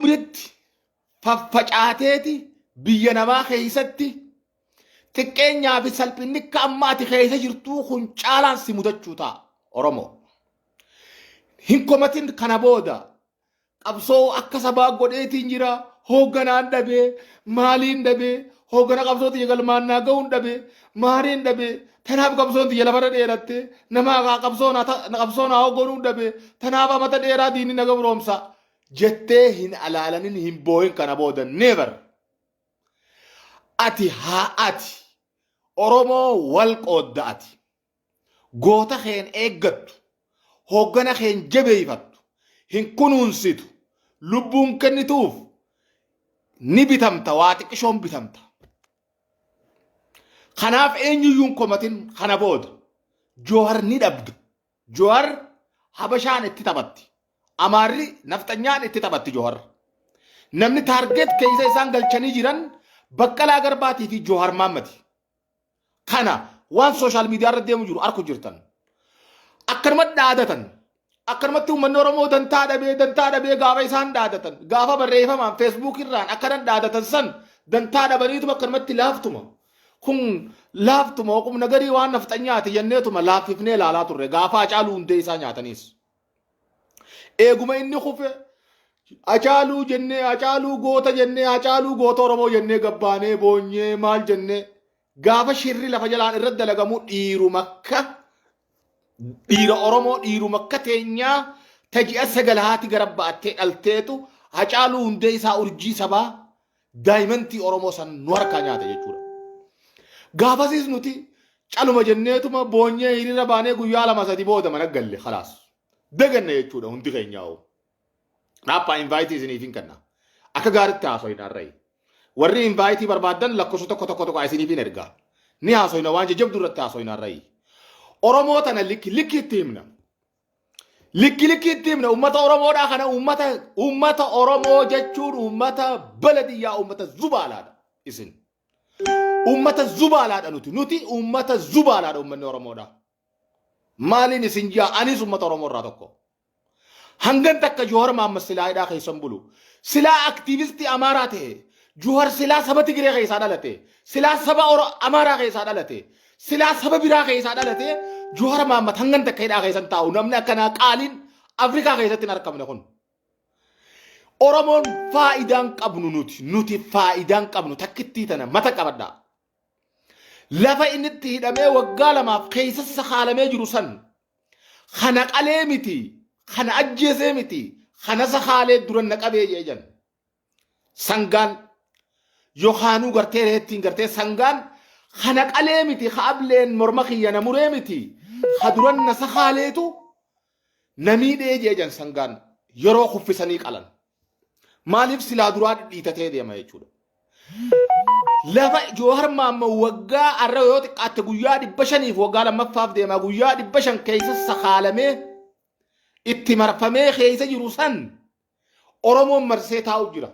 hundatti faffacaateeti biyya namaa keessatti xiqqeenyaa fi salphinni akka amma ati keessa jirtuu kun caalaan si mudachuu ta'a Oromoo. Hin komatin kana booda qabsoo akka sabaa godheetiin jira hoogganaan dhabee maaliin dhabee hooggana qabsoo tiyya galmaannaa ga'uun dhabee maaliin dhabee tanaaf qabsoon tiyya lafarra dheeratte namaa qabsoon qabsoon haa hoogganuun dhabee tanaaf amata dheeraa diinni na gabroomsa jettee hin alaalanin hin boohin kana booda never ati haa ati oromoo wal qoodda ati goota keen eeggattu hooggana keen jabeeyfattu hin kunuunsitu lubbuun kennituuf ni bitamta waa xiqqishoon bitamta kanaaf eenyuyyuun komatin kana booda joohar ni dhabda Johar Habashaan itti taphatti. Amaarri nafxanyaan itti taphatti Johar. Namni taargeet keessa isaan galchanii jiran Baqqalaa Garbaatii fi Johar Maammati. Kana waan sooshaal miidiyaa irra deemu jiru arku jirtan. Akkanuma dhaadatan. Akkanumatti uummanni Oromoo dantaa dhabee dantaa dhabee gaafa isaan dhaadatan. Gaafa barreeffamaan feesbuuk irraan akkanan dhaadatan san dantaa dhabaniitu akkanumatti laaftuma. Kun laaftuma oqumna garii waan nafxanyaati jenneetuma laaffifnee ilaalaa turre gaafa Hacaaluu hundee isaa nyaataniis. Eeguma inni kufe Hacaaluu jennee Hacaaluu goota jennee Hacaaluu goota Oromoo jennee gabbaanee boonyee maal jennee gaafa shirri lafa jalaan irratti dalagamu dhiiruma akka dhiira Oromoo dhiiruma akka teenyaa taji'a sagal haati gara ba'attee dhalteetu Hacaaluu hundee isaa urjii sabaa daayimantii Oromoo san nu harkaa nyaate jechuudha. Gaafasiis nuti caluma jenneetuma boonyee hiriira baanee guyyaa lama sadi booda mana galle khalaas. Daganne jechuudha hundi keenyaa'u. Dhaaphaa invaayitii isiniif hin kenna. Akka gaaritti haasoyin har'ayi. Warri invaayitii barbaadan lakkoofsa tokko tokko tokko isiniif hin ergaa. Ni haasoyina waan jajjabduu irratti haasoyin har'ayi. Oromoo tana likki likki itti himna. Likki likki itti himna uummata Oromoodhaa kana uummata uummata Oromoo jechuun uummata baladiyyaa uummata zubaalaadha isin. Uummata zubaalaadha nuti nuti uummata zubaalaadha uummanni Oromoodhaa. Maaliin isin jaa anis uummata Oromoo irraa tokko. Hangan takka Joohar Maammas silaa hidhaa keessan bulu. Silaa aktiivistii Amaaraa ta'e. Joohar silaa saba Tigiree keessaa dhalate. Silaa saba Oro Amaaraa keessaa dhalate. Silaa saba biraa keessaa dhalatee Juhar Maammat hangan takka hidhaa keessan taa'u namni akkanaa qaaliin Afrikaa keessatti hin argamne kun. Oromoon faayidaan qabnu nuti nuti faayidaan qabnu takkittii tana mata qabadha. Lafa inni itti hidhamee waggaa lamaaf keessa isa haalamee jiru san kana qalee miti kana ajjeesee miti kana isa haalee duran na qabee jee jan. Sangaan yookaanuu gartee reettiin gartee sangaan kana qalee miti ka ableen morma kiyya na muree miti ka duran na sakaaleetu na miidhee jee jan sangaan yeroo kuffisanii qalan. Maaliif silaa duraa dhidhiitatee deema jechuudha. Lafa Joohar Maammoo waggaa arra yoo xiqqaatte guyyaa dhibba shaniif waggaa lammaffaaf deema guyyaa dhibba shan keessa sakaalamee itti marfamee keessa jiru san Oromoon marsee taa'u jira.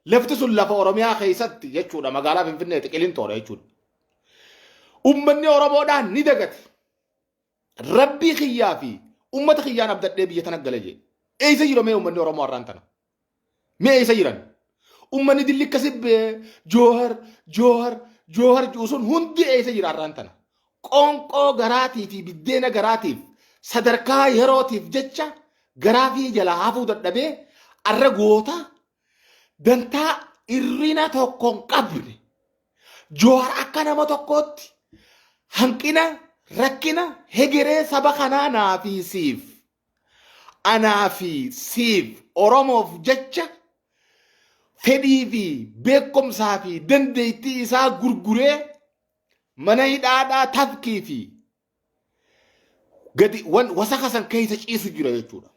Lafti sun lafa Oromiyaa keessatti jechuudha magaalaa Finfinneeti qilintoodha jechuudha. Ummanni Oromoodhaan ni dagate. Rabbii kiyyaa fi ummata kiyyaan abdadhee biyya tana gale jee. Eessa jira mee ummanni Oromoo har'aan tana? Mee eessa jiran? Ummanni dilli akkasi joohar joohar joohar jiru sun hundi eessa jira har'aan tana? Qoonqoo garaatii fi biddeena garaatiif sadarkaa yerootiif jecha garaa fi jalaa hafuu dadhabee arra goota dantaa irrina tokko hin qabne Jowaar akka nama tokkootti hanqina rakkina hegeree saba kanaa naa fi siif anaa fi siif Oromoof jecha fedhii fi beekumsaa fi dandeettii isaa gurguree Mana hidhaadhaa tafkii fi gadi wan wasaka san keessa ciisu jira jechuudha.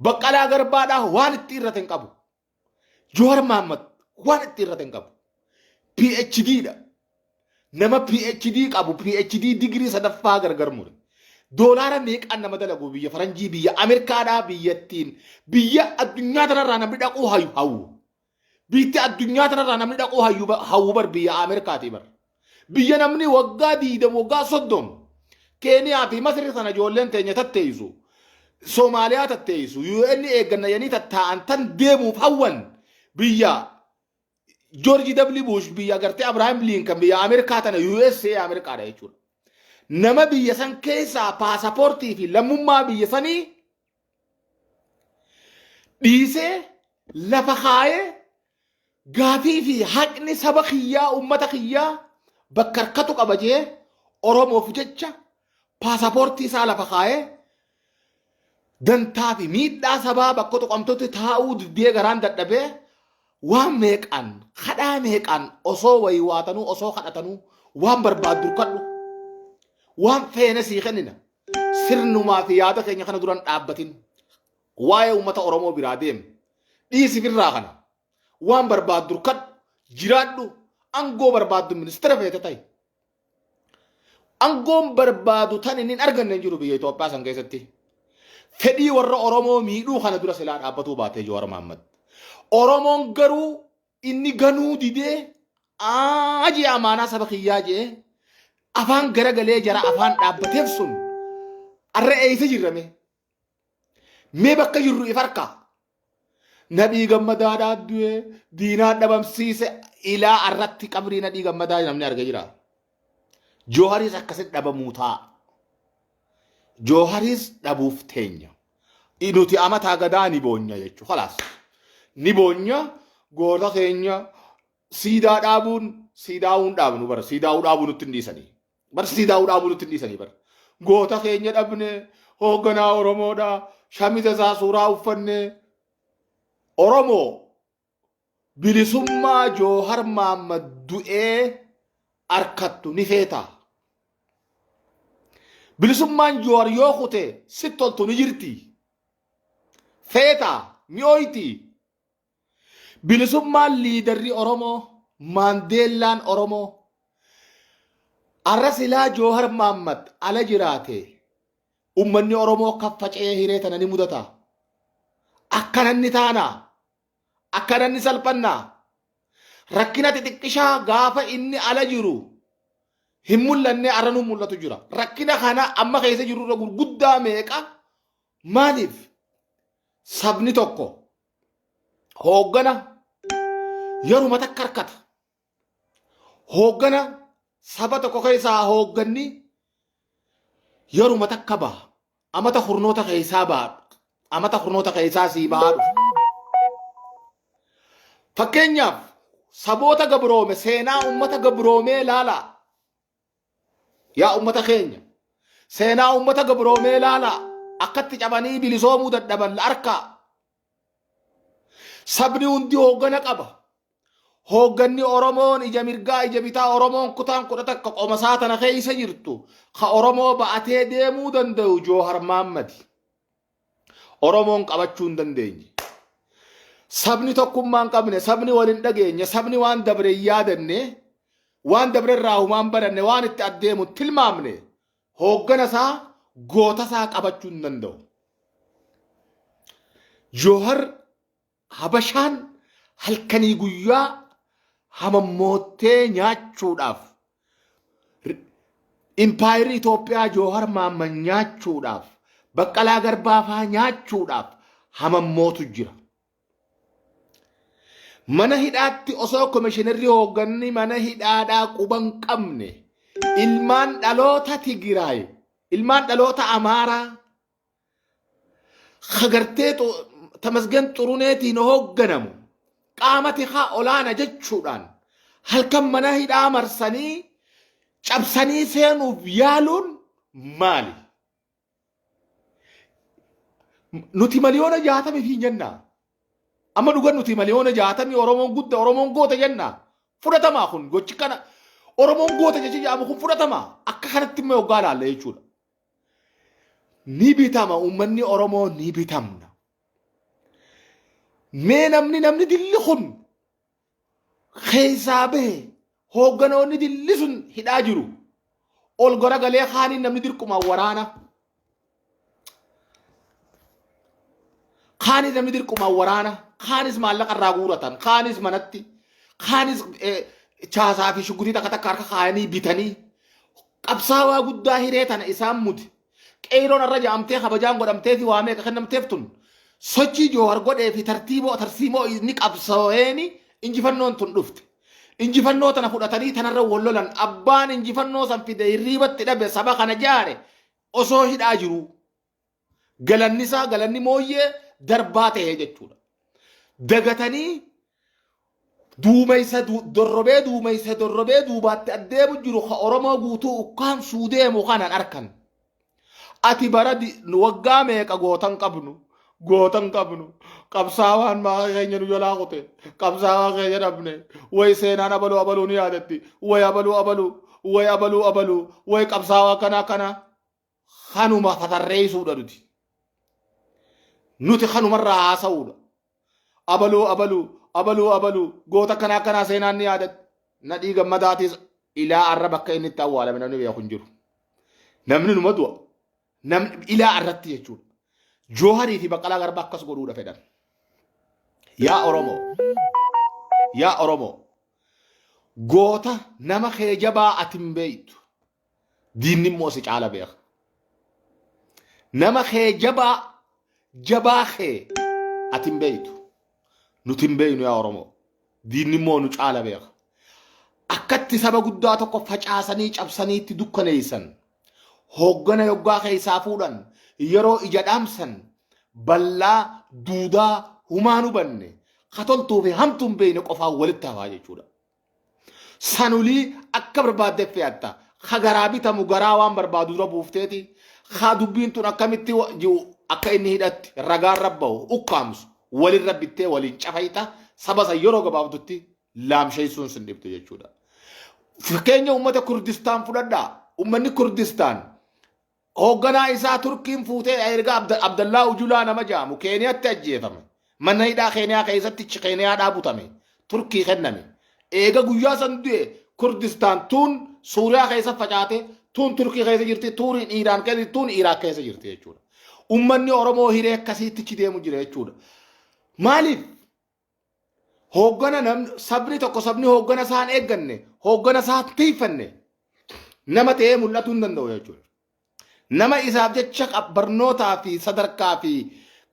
Baqqalaa garbaadhaa waan itti irrate hin qabu. Johar Mahammad waan itti irrate hin qabu. PhD dha. Nama PhD qabu PhD digirii sadaffaa gargar mure. Doolaara meeqaan nama dalagu biyya faranjii biyya Ameerikaadhaa biyyattiin biyya addunyaa tanarraa namni dhaquu hayu hawwu. Biitti addunyaa tanarraa namni dhaquu hayyu ba- hawwu bar biyya Ameerikaatii bar. Biyya namni waggaa diidam waggaa soddom Keeniyaa fi Masri sana ijoolleen teenya tatteessu. Somaaliyaa tatteessu. UN eegganna jedhanii tattaa'an tan deemuuf hawwan biyya Joorji W. Bush biyya gartee Abrahaam Liinkan biyya Ameerikaa tana USA Ameerikaadha jechuudha. Nama biyya san keessaa paasapoortii fi lammummaa biyya sanii dhiisee lafa kaayee gaafii fi haqni saba kiyyaa uummata kiyyaa bakka harkatu qaba jee Oromoof jecha paasapoortii isaa lafa kaayee dantaa fi miidhaa sabaa bakka tuqamtutti taa'uu didee garaan dadhabee waan meeqaan kadhaa meeqaan osoo wayii waatanuu osoo kadhatanuu waan barbaaddu kadhu waan feene sii kennina Sirnumaa fi yaada keenya kana duran dhaabbatin. Waa'ee uummata Oromoo biraa deem. Dhiisi birraa kana. Waan barbaaddu durkadhu. Jiraadhu. Angoo barbaaddu ministeera feete ta'i. Angoon barbaadu tan inni hin arganne hin jiru biyya Itoophiyaa san keessatti. Fedhii warra Oromoo miidhuu kana dura silaa dhaabbatuu baatee Jawaar Mahaammad. Oromoon garuu Inni ganuu didee aa jee amaanaa saba kiyyaa jee afaan garagalee jara afaan dhaabbateef sun arra eeysa jirrame. Mee bakka jirru if harkaa. Nadhii gammadaa dhaaddu'ee diinaa dhabamsiise ilaa arratti qabrii nadhii gammadaa namni arga jira. Jooharis akkasitti dhabamuu ta'a. Jooharis dhabuuf teenya. nuti amataa gadaa ni boonya jechuudha. Kalaas ni boonya goota keenya siidaa dhaabuun siidaa'uun dhaabnu bara siidaa'uu dhaabuu nutti hin dhiisanii. Bara siidaa'uu dhaabuu nutti hin dhiisanii bara. Goota keenya dhabne hoogganaa Oromoodha shamiza isaa suuraa uffanne Oromoo Bilisummaa Joohar Maammad du'ee arkattu ni feetaa? Bilisummaan Joohar yoo kute sitti toltu ni jirti? Feetaa? Ni ooyti? Bilisummaan liidarri Oromoo, Maandeellaan Oromoo, arra silaa Joohar Maammad ala jiraate ummanni Oromoo kan faca'ee hiree tana ni mudataa? Akkanan ni taanaa? Akkanan ni salphanna. Rakkina xixiqqishaa gaafa inni ala jiru hin mul'anne arra nu mul'atu jira. Rakkina kana amma keessa jiru irra gurguddaa meeqa maaliif sabni tokko hooggana yeruma takka harkata. Hooggana saba tokko keessaa hoogganni yeruma takka baha. Amata kurnoota keessaa baha. Amata kurnoota keessaa sii bahaa dhufa. Fakkeenyaaf saboota gabroome seenaa uummata gabroomee ilaalaa. Yaa ummata keenya seenaa ummata gabroomee laalaa akkatti cabanii bilisoomuu dadhaban la arkaa. Sabni hundi hooggana qaba. Hoogganni Oromoon ija mirgaa ija bitaa Oromoon kutaan kudha takka qomasaa tana keessa jirtu ka Oromoo ba'atee deemuu danda'u Joohar Maammadi. Oromoon qabachuu hin dandeenye. Sabni tokkummaa hin qabne, sabni wal hin dhageenye, sabni waan dabre hin yaadanne, waan dabre irraa humaan baranne, waan itti addeemu hin tilmaamne, hooggana isaa, goota isaa qabachuu hin danda'u. Joohar Habashaan halkanii guyyaa hamammoottee nyaachuudhaaf impaayerii Itoophiyaa Joohar Maamman nyaachuudhaaf Baqqalaa Garbaafaa nyaachuudhaaf hamammootu jira. Mana hidhaatti osoo komishinarri hoogganni mana hidhaadhaa quban qabne ilmaan dhaloota Tigiraay, ilmaan dhaloota Amaaraa Hagartee Tamasgen Xuruneetiin hoogganamu qaama tikaa olaana jechuudhaan halkan mana hidhaa marsanii cabsanii seenuuf yaaluun maali? Nuti miliyoona jaatamii fi jennaa. Amma dhugan nuti miliyoona jaatamii Oromoon gudda Oromoon goota jennaa. Fudhatamaa kun gochi kana Oromoon goota jechi jedhamu kun fudhatamaa akka kanatti immoo hoggaa ilaalla jechuudha. ni bitama uummanni Oromoo ni bitamna. Mee namni namni dilli kun keessaa bahe hoogganoonni dilli sun hidhaa jiru. Ol garagalee kaaniin namni dirqumaan waraana. Kaanis namni dirqumaan waraana. Kaanis maallaqa irraa guuratan. Kaanis manatti. Kaanis eh, chaasaa fi shuggutii takka takka harka kaayanii bitanii. Qabsaawaa guddaa hiree tana isaan mude Qeeyroon arra ja'amtee kabajaan godhamteefi waa meeqa kennamteef tun sochii Joohar godheefi tartiiboo tarsiimoo inni qabsaweeni injifannoon tun dhufte. Injifannoo tana fudhatanii tanarra wal lolan abbaan injifannoo san fide hirriibatti dhabe saba kana jaare osoo hidhaa jiruu. Galanni isaa galanni mooyyee darbaa ta'ee jechuudha. Dagatanii duumeysa du- dorrobee duumeysa dorrobee duubaatti addeemu jiru ka Oromoo guutuu ukkaamsuu deemu kanan arkan. Ati bara di- nu waggaa meeqa gootan qabnu gootan qabnu qabsaawaan maaqa keenya nu jalaa kute qabsaawaa keenya dhabne way seenaan abaluu abaluu ni yaadatti way abaluu abaluu way abaluu abaluu way qabsaawaa kanaa kanaa kanuma tatarreessuudha nuti. Nuti kanumarraa haasa'uudha. Abaluu abaluu abaluu abaluu goota akkanaa akkanaa seenaan ni yaadatti. Nadhii gammadaatis ilaa arra bakka inni itti awwaalame namni beeku hin jiru. Namni numa du'a. Namni ilaa arratti jechuudha. Jooharii fi Baqqalaa Garbaa akkas godhuudha fedhan. Yaa Oromoo. Yaa Oromoo. Goota nama kee jabaa ati hin beektu. Diinni immoo si caala beeka. Nama kee jabaa jabaa kee ati hin beektu. Nuti hin beeknu yaa Oromoo. Diinni immoo nu caala beeka. Akkatti saba guddaa tokko facaasanii cabsanii itti dukkaneessan. Hooggana yoggaa keessaa fuudhan yeroo ija dhaamsan bal'aa duudaa humaan hubanne katoltuu fi hamtuun beekne qofaan walitti hafaa jechuudha. sanulii akka barbaadde fe'atta ka garaa bitamu garaa waan barbaadu dura buufteeti ka dubbiin tun akkamitti wa- ji'u akka inni hidhatti ragaan rabba'u ukkaamsu walirra bittee waliin cafayxa saba san yeroo gabaabdutti laamsheessuun sin dhibdu jechuudha. Fakkeenya uummata Kurdistaan fudhadhaa. Uummanni Kurdistaan Hoogganaa isaa Turkiin fuuteedha erga Abda- Abdallaa Ujulaa nama jaamu Keeniyatti ajjeefame. Mana hidhaa Keeniyaa keessatti ch- Keeniyaadhaa butame. Turkii kenname. Eega guyyaa san du'e Kurdistaan tuun Suuriyaa keessa facaate, tuun Turkii keessa jirti, tuun Iiraan keessa jirti, tuun Iraaq keessa jirti jechuudha. Ummanni Oromoo hiree akkasiittichi deemu jira jechuudha. Maaliif? Hooggana nam- sabni tokko sabni hooggana isaan eegganne hooggana isaa tiifanne nama ta'ee mul'atuu hin danda'u jechuudha. Nama isaaf jecha qab- barnootaa fi sadarkaa fi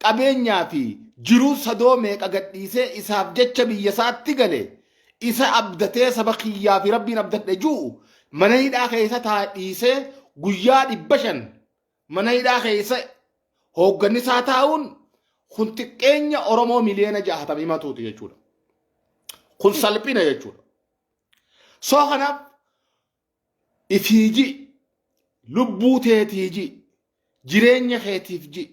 qabeenyaa fi jiruu sadoo meeqa gadhiisee isaaf jecha biyya isaatti gale isa abdatee saba kiyyaa fi rabbiin abdadhe jiru mana hidhaa keessa taa dhiisee guyyaa dhibba shan Mana hidhaa keessa hoogganni isaa taa'uun kun xiqqeenya Oromoo miliyoona jahatam himatuuti jechuudha. Kun salphina jechuudha. Soo kanaaf ifiiji lubbuu teetiiji jireenya keetiif ji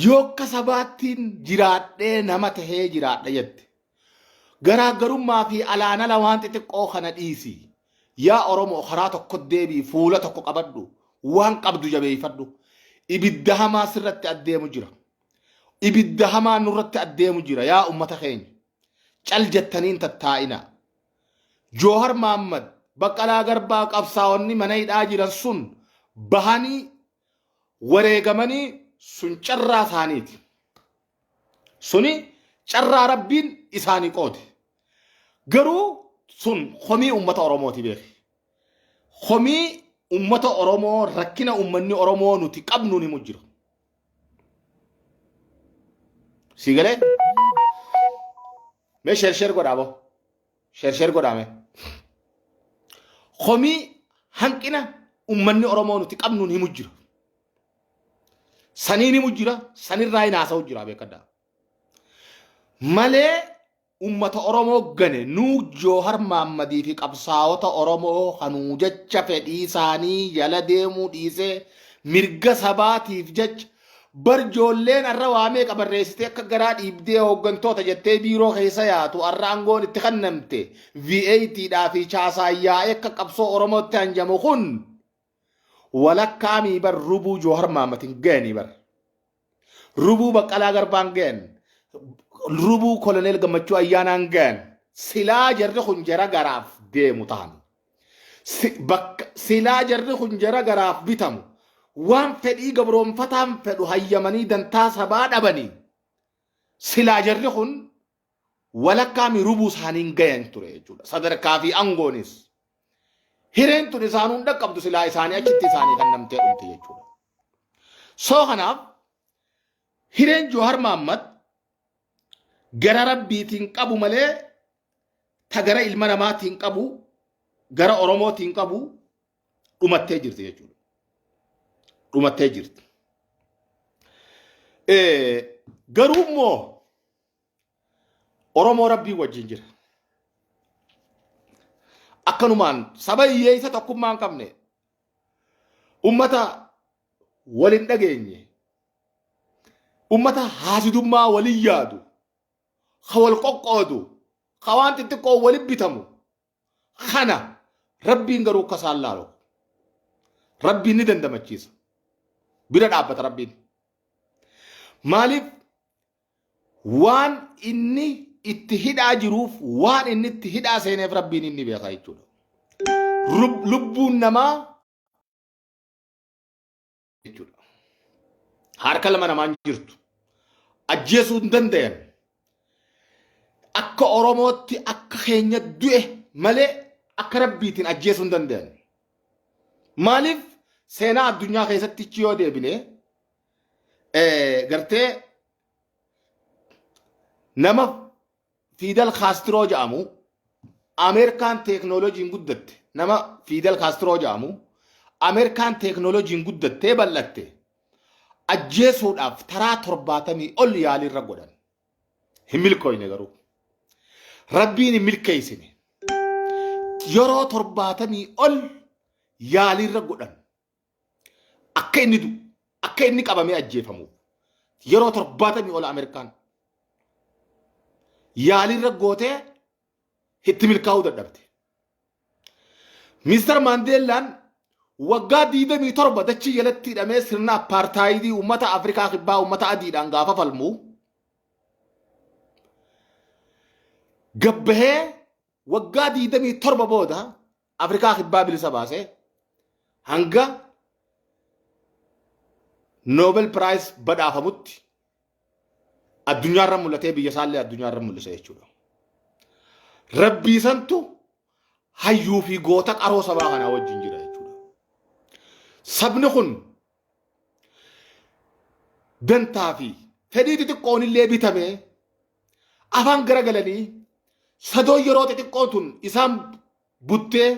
yoo akka sabaattiin jiraadhee nama tahee jiraadha jette. Garaaggarummaa fi alaan ala waan xixiqqoo kana dhiisi. Yaa Oromoo karaa tokko deebii fuula tokko qabadhu waan qabdu jabeeffadhu. Ibidda hamaa sirratti addeemu jira. Ibidda hamaa nurratti addeemu jira yaa ummata keenya. Cal jettaniin tattaa'ina. Joohar Maammad Baqqalaa Garbaa qabsaa'onni mana hidhaa jiran sun bahanii wareegamanii sun carraa isaaniiti. Suni carraa rabbiin isaani qoode. Garuu sun komii ummata Oromooti beeki. Komii ummata Oromoo rakkina ummanni Oromoo nuti qabnuun himu jira. Sii galee? Mee sheer sheer godhaa boo. Sheer sheer godhaa mee. Komii hanqina ummanni Oromoo nuti qabnuun himu jira. Saniin himu jira, sanirraa hin haasa'u jira beekadhaa. Malee ummata Oromoo gane nuu Joohar Maammadii fi qabsaa'ota Oromoo hanuu jecha fedhii isaanii jala deemuu dhiisee mirga sabaatiif jecha bar joolleen arra waa meeqa barreessitee akka garaa dhiibdee hooggantoota jettee biiroo keessa yaatu arra aangoon itti kennamte VAT dhaa fi chaasaan yaa'ee akka qabsoo Oromootti hanjamu kun walakkaa mii bar rubuu joohar maamatin gayanii bar rubuu baqqalaa garbaan gayan rubuu koloneel gammachuu ayyaanaan gayan silaa jarri kun jara garaaf deemu tahan Si- bakka- silaa jarri kun jara garaaf bitamu waan fedhii gabroonfataan fedhu hayyamanii dantaa sabaa dhabanii silaa jarri kun walakkaa mi rubuu isaaniin gayan ture jechuudha. Sadarkaa fi angoonis hireen tun isaan hunda qabdu silaa isaanii achitti isaanii kan namtee dhumte jechuudha. Soo kanaaf hireen Joohar Maammad gara rabbiitiin qabu malee ta gara ilma namaatiin qabu gara Oromootiin qabu dhumattee jirti jechuudha. Dhumattee jirti. Garuu immoo Oromoo Rabbii wajjin jira. Akkanumaan saba hiyyeessa tokkummaa hin qabne ummata wal hin dhageenye ummata haasidummaa waliin yaadu ka wal qoqqoodu ka waan xixiqqoo waliin bitamu kana rabbiin garuu akka isaan laalu rabbiin ni dandamachiisa bira dhaabbata rabbiin maaliif waan inni itti hidhaa jiruuf waan inni itti hidhaa seeneef rabbiin inni beekaa jechuudha. Rub- Lubbuun namaa jechuudha. Harka lama namaan jirtu. Ajjeesuu hin danda'an. Akka Oromootti akka keenya du'e malee akka rabbiitiin ajjeesuu hin danda'an. Maaliif seenaa addunyaa keessatti yoo deebine eh, gartee nama Fidel Castro jedhamu Ameerikaan teeknooloojiin guddatte nama Fidel Castro jedhamu Ameerikaan teeknooloojiin guddattee bal'atte ajjeesuudhaaf taraa torbaatamii ol yaaliirra godhan hin milkooyne garuu rabbiin hin milkeessine yeroo torbaatamii ol yaaliirra godhan akka inni du'u akka inni qabamee ajjeefamuuf yeroo torbaatamii ol Ameerikaan yaaliirra gootee itti milkaa'uu dadhabde. Mister Maandeellaan waggaa 27 dachii jalatti hidhamee sirna appaartaayidii uummata Afrikaa kibbaa uummata adiidhaan gaafa falmu gabbahee waggaa 27 booda Afrikaa kibbaa bilisa baasee hanga Nobel Prize badhaafamutti addunyaarra mul'atee biyya isaallee addunyaarra mul'ise jechuudha. Rabbii santu hayyuu fi goota qaroo sabaa kanaa wajjin jira jechuudha. Sabni kun dantaa fi fedhii xixiqqoon illee bitame afaan garagalanii sadoon yeroo xixiqqoo tun isaan buttee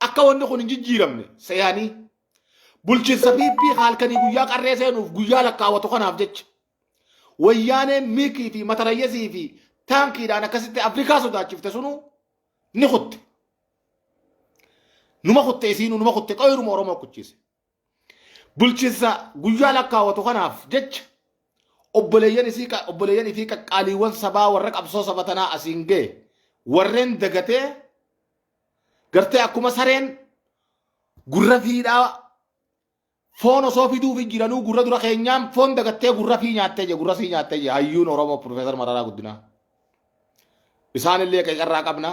akka wanni kun hin jijjiiramne seeyanii bulchiinsa PP halkanii guyyaa qarree seenuuf guyyaa lakkaawwatu kanaaf jecha wayyaaneen miikii fi matarayyasii fi taankiidhaan akkasitti Afrikaa sodaachifte sunuu ni kutte. Numa kutte isiinuu numa kutte qoyiruma Oromoo kuchise. Bulchinsa guyyaa lakkaawwatu kanaaf jecha obboleeyyan isii qa- obboleeyyan ifii qaqqaaliiwwan sabaa warra qabsoo saba tanaa asiin ga'e warreen dagatee gartee akkuma sareen gurra fiidhaa foon osoo fiduufi jiranuu gurra dura keenyaan foon dagattee gurra fii nyaattee jee gurra sii nyaattee jee hayyuun Oromoo Profeesar Mararaa Guddinaa. Isaanillee qeeqa irraa qabna.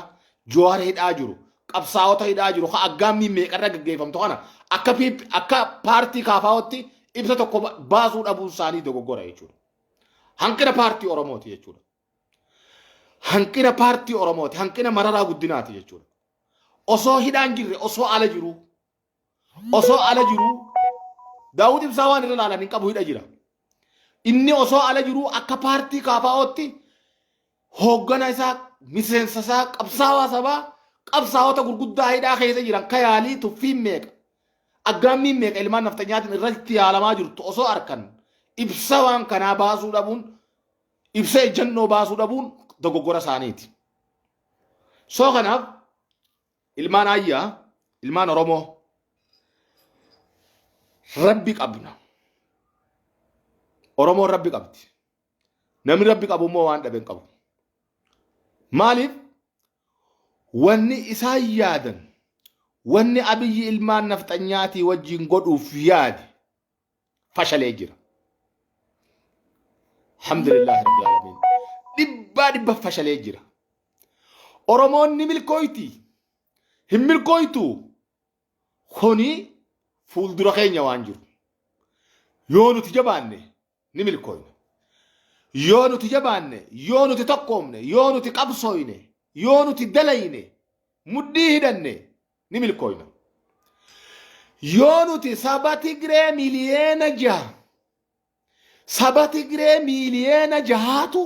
Jawaar hidhaa jiru. Qabsaa'ota hidhaa jiru. Kan aggaammiin meeqarra gaggeeffamtu kana akka PP akka paartii kaafaa'otti ibsa tokko ba- baasuu dhabuun isaanii dogoggora jechuudha. Hanqina paartii Oromooti jechuudha. Hanqina paartii Oromooti. Hanqina mararaa guddinaati jechuudha. Osoo hidhaan jirre osoo ala jiru osoo ala jiruu Daawud Ibsaa waan irra laalan hin qabu hidha jira. Inni osoo ala jiruu akka paartii kaafaa'ootti hooggana isaa miseensa isaa qabsaawaa sabaa qabsaawota gurguddaa hidhaa keessa jiran ka yaalii tuffiin meeqa aggaammiin meeqa ilmaan nafxanyaatiin irratti yaalamaa jirtu osoo arkan ibsa waan kanaa baasuu dhabuun ibsa ejjannoo baasuu dhabuun dogoggora isaaniiti. Soo kanaaf ilmaan ayyaa ilmaan oromoo rabbi qabna oromoon rabbi qabdi namni rabbi qabu immoo waan dhabe hin qabu maaliif wanni isaan yaadan wanni abiyyi ilmaan nafxanyaatii wajjin godhuuf yaade fashalee jira. Alhamdulillah Rabbil Alamin. Dhibbaa dhibba fashalee jira. Oromoon ni milkooyti. Hin milkooytu. Kuni fuuldura keenya waan jiru. Yoo nuti jabaanne ni milkooyna. Yoo nuti jabaanne, yoo nuti tokkoomne, yoo nuti qabsooyne, yoo nuti dalayne, mudhii hidhanne ni milkooyna. Yoo nuti saba Tigree miliyeena jaha saba Tigree miliyeena jahaatu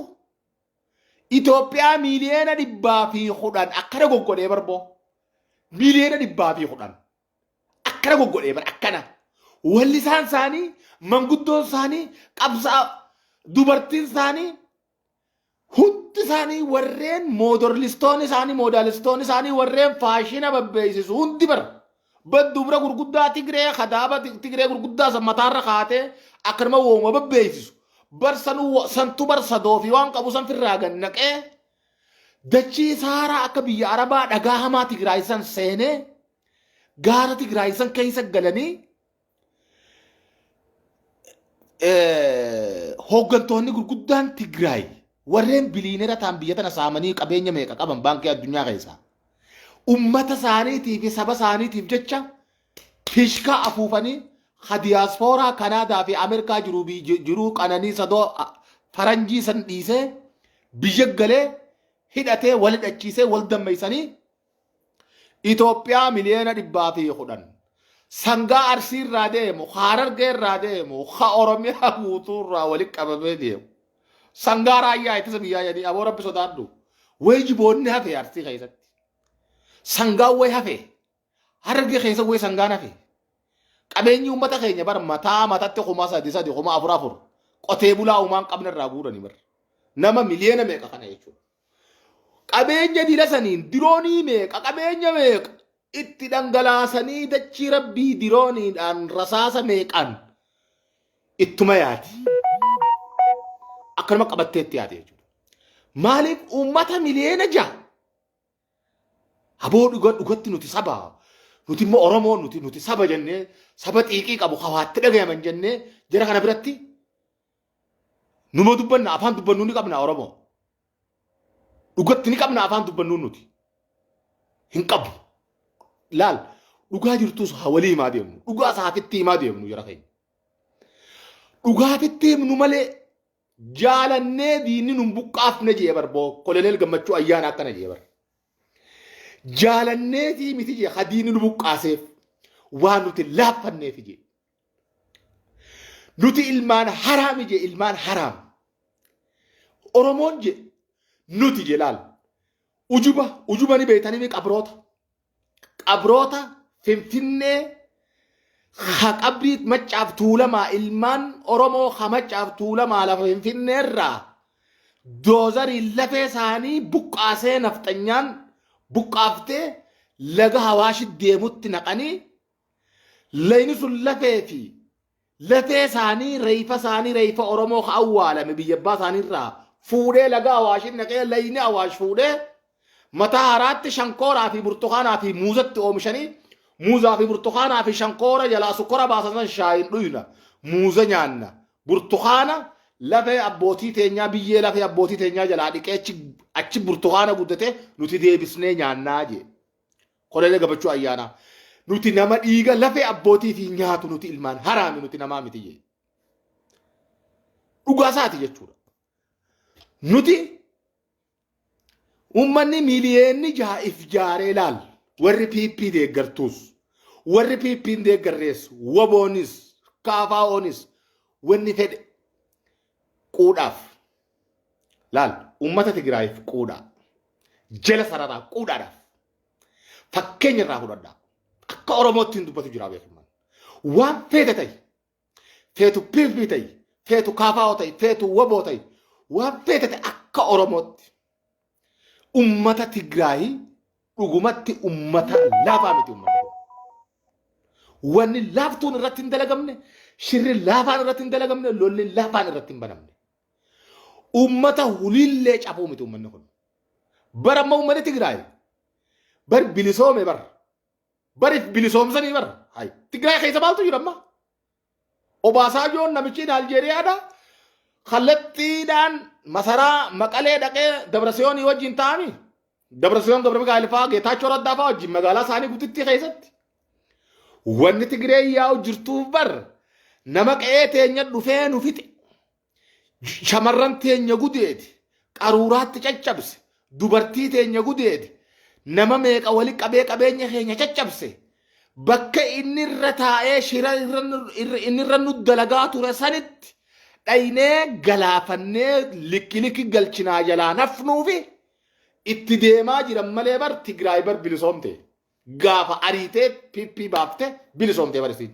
Itoophiyaa miliyeena dhibbaa fi kudhan akkana goggodhee barboo miliyeena dhibbaa fi kudhan akkana goggodhee bar akkana wallisaan isaanii manguddoon isaanii qabsaa dubartiin isaanii Hundi isaanii warreen moodorlistoonni isaanii moodaalistoonni isaanii warreen faashina babbeeysisu hundi bara. Baddubra gurguddaa Tigree kadaaba Tigree gurguddaa san mataarra kaatee akkanuma wooma babbeeysisu. Bar sanuu santu bar sadoo fi waan qabu san firraa gad naqee dachii saaraa akka biyya Arabaa dhagaa hamaa Tigraay san seenee gaara Tigraay san keessa galanii eh, hooggantoonni gurguddaan Tigraay warreen biliinera ta'an biyya tana saamanii qabeenya meeqa qaban baankii addunyaa keessaa ummata isaaniitii fi saba isaaniitiif jecha fishkaa afuufanii ha diyaaspooraa Kanaadaa fi Ameerikaa jiruu fi ji- jiruu qananii sadoo a- faranjii san dhiisee biyya galee hidhatee wal hidhachiisee wal dammeessanii Itoophiyaa miliyoona dhibbaa fi kudhan sangaa arsii irraa deemu ka harargee irraa deemu ka oromiyaa guutuu irraa walitti qabamee deemu sangaa raayyaa ittisa biyyaa jedhanii aboo rabbi sodaadhu wayi jiboonni hafe arsii keessatti sangaan wayi hafe harargee keessa wayi sangaan hafe qabeenyi uummata keenya bar mataa matatti kuma sadi sadi kuma afur afur qotee bulaa uumaan qabne irraa guuranii bar nama miliyoona meeqa kana jechuudha. qabeenya dila saniin diroonii meeqa qabeenya meeqa itti dhangalaasanii dachii rabbii dirooniidhaan rasaasa meeqaan ittuma yaati. Akkanuma qabattee itti yaate jechuudha. Maaliif uummata miliyoona ja'a? Haboo dhuga dhugatti nuti saba nuti immoo Oromoo nuti nuti saba jennee saba xiiqii qabu hawaatti dhagayaman jennee jara kana biratti Numa dubbanna afaan dubbannuu ni qabna Oromoo. Dhugatti ni qabna afaan dubbannuu nuti. Hin qabu. Laal dhugaa jirtus haa walii himaa deemnu. Dhugaa saafitti himaa deemnu jara keenya. Dhugaatitti himnu malee jaalannee diinni nun buqqaafne jee barboo koloneel gammachuu ayyaana akkana jee bar. Jaalannee fi miti jee ha diinni nu buqqaaseef waan nuti laaffanneef jee. Nuti ilmaan haraami je ilmaan haraam. Oromoon je nuti je laal. Ujuba ujuba ni beektanii mi qabroota. Qabroota finfinnee ha qabrii maccaaf tuulamaa ilmaan Oromoo ha maccaaf tuulamaa lafa finfinnee irraa doozariin lafee isaanii buqqaasee nafxanyaan buqqaaftee laga hawaashit deemutti naqanii Layni sun lafee fi latee isaanii reefa isaanii reefa Oromoo ka awwaalame biyya abbaa isaanii irraa fuudhee laga Awaashin naqee layni Awaash fuudhee mataa haraatti shankooraa fi burtukaanaa fi muuzatti oomishanii muuzaa fi burtukaanaa fi shankoora jalaa sukkora baasan san shaayiin dhuyna muuza nyaanna burtukaana lafee abbootii teenyaa biyyee lafee abbootii teenyaa jalaa dhiqee achi burtukaana guddatee nuti deebisnee nyaannaa jee. Koloneel Gammachuu Ayyaanaa nuti nama dhiiga lafee abbootii fi nyaatu nuti ilmaan haraami nuti namaa miti jee. Dhugaa isaati jechuudha. Nuti uummanni miiliyeenni jaha if jaaree laal warri PP deeggartuus warri PP deeggarrees waboonis kaafaa'oonis wanni fedhe quudhaaf laal uummata Tigraayiif quudhaa jala sararaa quudhaadhaaf fakkeenya irraa fudhadhaa akka Oromootti hin dubbatu jira beekaman waan feete ta'i feetu piifii ta'i feetu kaafaa'oo ta'i feetu waboo ta'i waan feete ta'i akka Oromootti Ummata Tigraay dhugumatti ummata laafaa miti ummata. Wanni laaftuun irratti hin dalagamne, shirri laafaan irratti hin dalagamne, lolli laafaan irratti hin banamne. Ummata huliillee cabuu miti ummanni kun. Bara amma ummanni Tigraay bar bilisoome bar barif bilisoomsanii bar hay Tigraay keessa maaltu jira amma? Obaasaajoon namichiin Aljeeriyaadha kallattiidhaan masaraa Maqalee dhaqee Dabrasiyoonii wajjin taa'ami. Dabrasiyoon Gabra Mikaa'el fa'aa Geetaachoo Raddaa fa'aa wajjin magaalaa isaanii guddittii keessatti. Wanni Tigiree yaa'u jirtuuf bar nama qe'ee teenya dhufee nu fixe. shamarran teenya gudeedi qaruuraatti caccabse dubartii teenya gudeedi nama meeqa wali qabee qabeenya keenya caccabse bakka inni irra taa'ee shira irra nu- irra- inni irra nu dalagaa ture sanitti dhaynee galaafannee likki likki galchinaa jalaa nafnuufi itti deemaa jiran malee bar Tigraay bar bilisoomte. gaafa ariitee PP baafte bilisoomtee barisiin.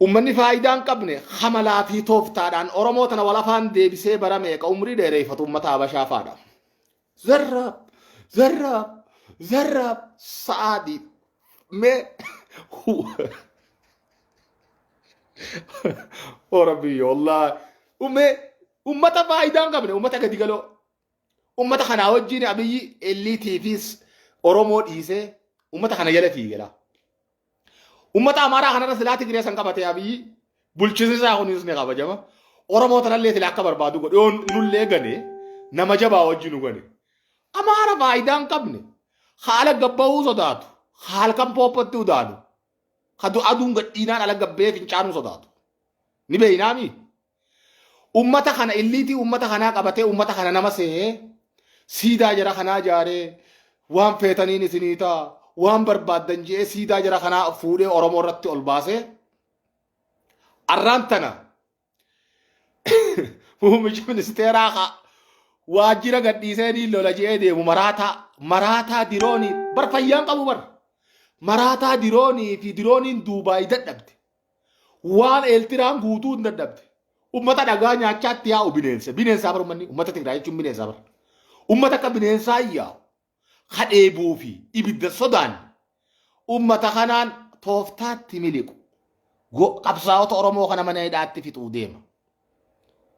Uummanni faayidaa hin qabne hamalaa fi tooftaadhaan Oromoo tana walafaan deebisee bara meeqa umrii dheereeffatu uummata Habashaa faadha. Zarraab, zarraab, zarraab, sa'aadii, mee Oromoo, Allah, ummee, uummata faayidaa hin qabne, uummata gadi galoo. Uummata kanaa wajjin Abiyyi elliitiifis Oromoo dhiisee uummata kana jala fiigela. Uummata Amaaraa kanarra silaa Tigree san qabatee Abiyyi bulchiinsi isaa kunis ni kabajama. Oromoo tanallee silaa akka barbaadu godhe yoo nullee gane nama jabaa wajjin nu gane. Amaara faayidaa hin qabne haala gabbahuu sodaatu halkan poopatti udaanu ka aduun gadhiinaan ala gabbee fincaanuu sodaatu. Ni beeynaamii? Ummata kana illiitii ummata kanaa qabatee ummata kana nama se'ee siidaa jara kanaa ijaaree waan feetaniin isinii ta'a waan barbaaddan je'ee siidaa jara kanaa fuudhee Oromoo irratti ol baasee arraan tana muummicha ministeeraa haa waajjira gadhiisee ni lola je'ee deemu maraataa maraataa diroonii bar fayyaan qabu bar maraataa diroonii fi dirooniin duubaay dadhabde Waan Eeltiraan guutuu hin dadhabde. Ummata dhagaa nyaachaatti yaa'u bineensa. Bineensaa bara ummanni ummata Tigraay jechuun bineensaa bara. Ummata akka bineensaa yaa'u ka dheebuu fi ibidda sodaan ummata kanaan tooftaatti miliqu. Qabsaa'ota Oromoo kana mana hidhaatti fixuu deema.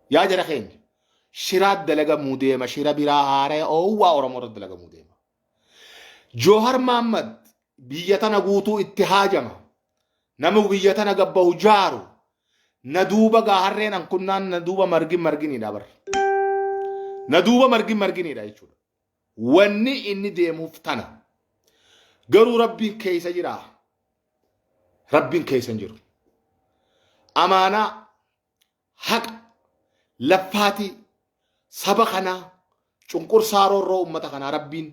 Yaa jara keenya shiraa dalagamuu deema shira biraa haaraya oowwaa Oromoo irratti dalagamuu deema. Joohar Maammad biyya tana guutuu itti haajama. Namu biyya tana gabbahu jaaru. Na duuba gaa harreen ankunnaan na duuba margin marginiidha bar. Na duuba margin marginiidha jechuudha. Wanni inni deemuuf tana. Garuu rabbiin keessa jira. Rabbiin keessa hin jiru. Amaanaa haqa, laffaatii saba kanaa, cunqursaa roorroo ummata kanaa rabbiin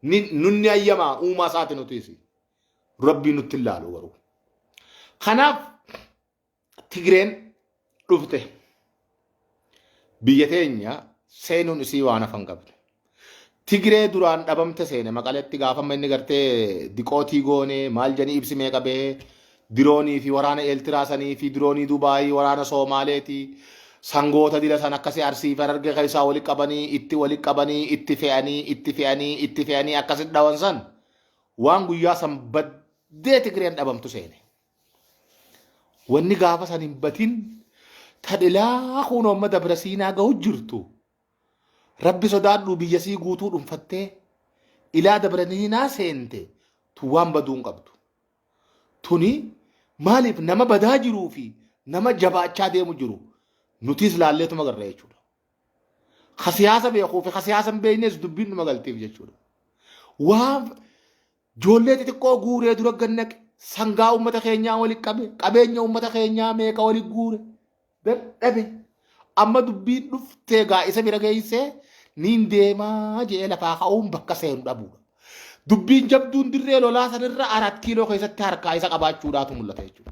ni, nunni ayyamaa uumaa isaati nutiisi. Rabbii nutti hin laalu garuu. Kanaaf Tigreen dhufte biyya teenya seenuun isii waan hafan qabne. Tigree duraan dhabamte seene maqaletti gaafa amma inni gartee diqootii goone maal janii ibsi meeqa bahee diroonii fi waraana Eeltiraa sanii fi diroonii Dubaayii waraana Soomaaleeti sangoota dila san akkasii arsii fi harargee keessaa wali qabanii itti wali qabanii itti fe'anii itti fe'anii itti fe'anii akkasitti dhawan san waan guyyaa san baddee Tigreen dhabamtu seene. Wanni gaafa san hin batin tadhilaa kun amma dabra siinaa gahu jirtu. Rabbi sodaadhuu biyya sii guutuu dhunfattee ilaa dabraniinaa seente tun waan baduu hin qabdu. Tuni maaliif nama badaa jiruu fi nama jabaachaa deemu jiru nutiis laalleetuma garra jechuudha. Ka siyaasa beekuu fi ka siyaasa hin beeknes dubbiin dhuma galtiif jechuudha. Waan Joollee xixiqqoo guuree dura gad naqe. Sangaa uummata keenyaa wali qabe. Qabeenya uummata keenyaa meeqa wali guure. Dadhabe. Amma dubbiin dhuftee gaa isa bira geessee niin deemaa je'ee lafaa ka'uun bakka seenu dhabuudha. Dubbiin jabduun dirree lolaa sanirra arat kiiloo keessatti harkaa isa qabaachuudhaatu mul'ata jechuudha.